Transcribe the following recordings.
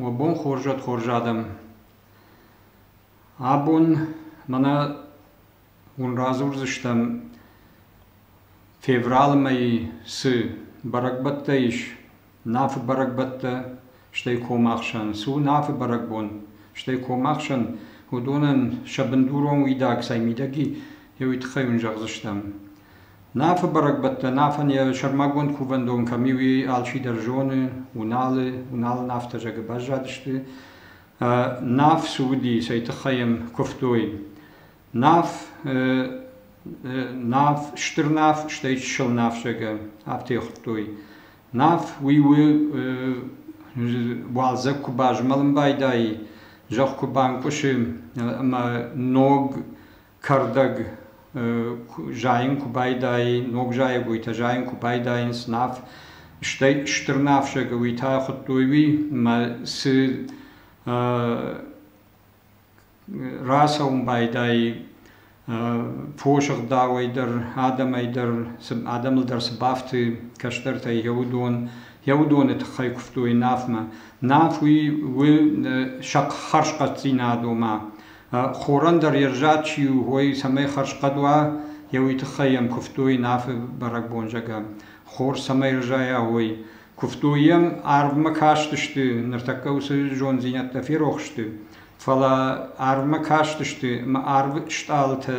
Уӕ бон хорзӕт хорз адӕм! Абон мӕнӕ уын радзурдзыстӕм февралы мӕйы цы бӕрӕгбӕттӕ ис Нафы бӕрӕгбӕттӕ, стӕй комахсӕн. Цы у Нафы бӕрӕгбон, стӕй комахсӕн, уыдонӕн сӕ бындурон уидаг цӕй мидӕги, еуи тыххӕй уын зӕгъдзыстӕм. Нафы бӕрӕгбӕттӕ Нафӕн йӕ сӕрмагонд кувӕндон кӕм и, уый алчидӕр зоны. Уыналы, Уыналы нафтӕ, зӕгъы, баззадысты. Наф цы уыди, цӕй тыххӕй йӕм куывтой? Наф Наф, стыр наф, стӕй чысыл наф, зӕгъы, афтӕ хуыдтой. Наф уый у уалдзӕг куы базмӕлын байдайы, зӕхх куы банкъуысы ӕмӕ ног кӕрдӕг зайын куы байдайы, ног зайӕгойтӕ зайын куы байдайынц наф, стӕй стыр нафсӕгы уый та хуыдтой уый, мӕ цы рацӕуын байдайы фосыгъдауӕй дӕр, адӕмӕй дӕр, адӕмыл дӕр цы бафты кӕстӕртӕй йӕ уыдон, йӕ уыдоны тыххӕй куывтой нафмӕ. Наф уый у сӕ хӕрзхъӕддзинад, ома Хорӕн дӕр йе взаг чи у, уой, цӕмӕй хӕрзхъӕд уа, йӕ уый тыххӕй йӕм куывтой Нафы бӕрӕгбон, зӕгъӕм. Хор цӕмӕй рызайа, уой. Куывтой йӕм, арвмӕ кастысты, ныртӕккӕ уыцы зонддзинӕдтӕ ферох сты. Фӕлӕ арвмӕ кастысты, ӕмӕ арвы стъалытӕ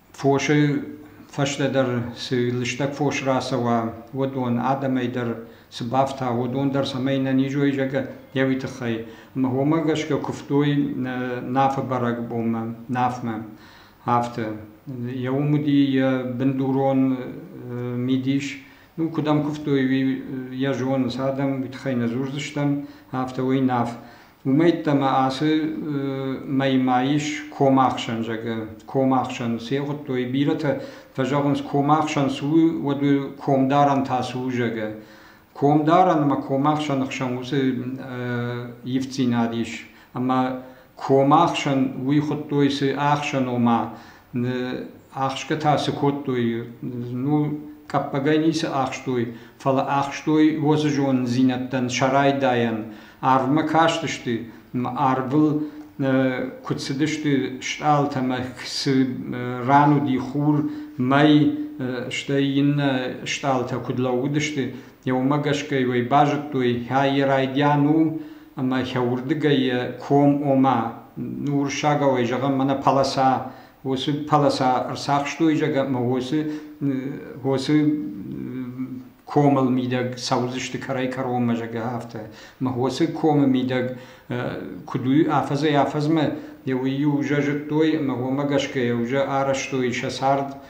Фосӕй фӕстӕдӕр цы лыстӕг фос рацӕуа, уыдон, адӕмӕй дӕр цы бафта, уыдон дӕр, цӕмӕй нӕ низой зӕгӕ еуи тыххӕй. Ӕмӕ уомӕ гӕсгӕ куывтой Нафы бӕрӕгбонмӕ, Нафмӕ. Афтӕ. Йӕ уым уыди йӕ бындурон мидис. Ну, куыдӕм куывтой, уый йӕ зоныс, адӕм уый тыххӕй нӕ дзурдзыстӕм, афтӕ уый Наф. Уымӕйттӕ ма ацы мӕймӕ ис комахсӕн зӕгъы. Комахсӕн се'гъуыдтой, бирӕтӕ фӕзӕгъынц, комахсӕн цы у, уӕд комдарӕн та цы у зӕгъы. Комдарӕн ӕмӕ комахсӕны хсӕн уыцы ивддзинад ис. Ӕмӕ комахсӕн уый хуыдтой цы ӕхсӕн, ома Ӕхсгӕтӕ цы кодтой, ну, къӕппӕгӕй ницы ӕхстой, фӕлӕ ӕхстой уоцы зонддзинӕдтӕн сӕ райдайӕн. Арвмӕ кастысты, арвыл куыд цыдысты стъалытӕ ӕмӕ цы ран уыди хур, мӕй, стӕй иннӕ стъалытӕ куыд лӕууыдысты, уымӕ гӕсгӕ уый базыдтой, йӕ райдиан у ӕмӕ йӕ уырдыгӕй йӕ ком ома, ну уырыссагау ӕй зӕгъӕм, мӕнӕ полоса, уыцы полоса ӕрцахстой зӕгъӕм, ӕмӕ уыцы уыцы комыл мидӕг цӕудзысты кӕрӕй-кӕронмӕ зӕгъӕ афтӕ. Мӕ уыцы комы мидӕг куыд у афӕдзӕй афӕдзмӕ, уый-иу ужӕ зыдтой ӕмӕ уымӕ гӕсгӕ йӕ ужӕ арӕзтой сӕ цард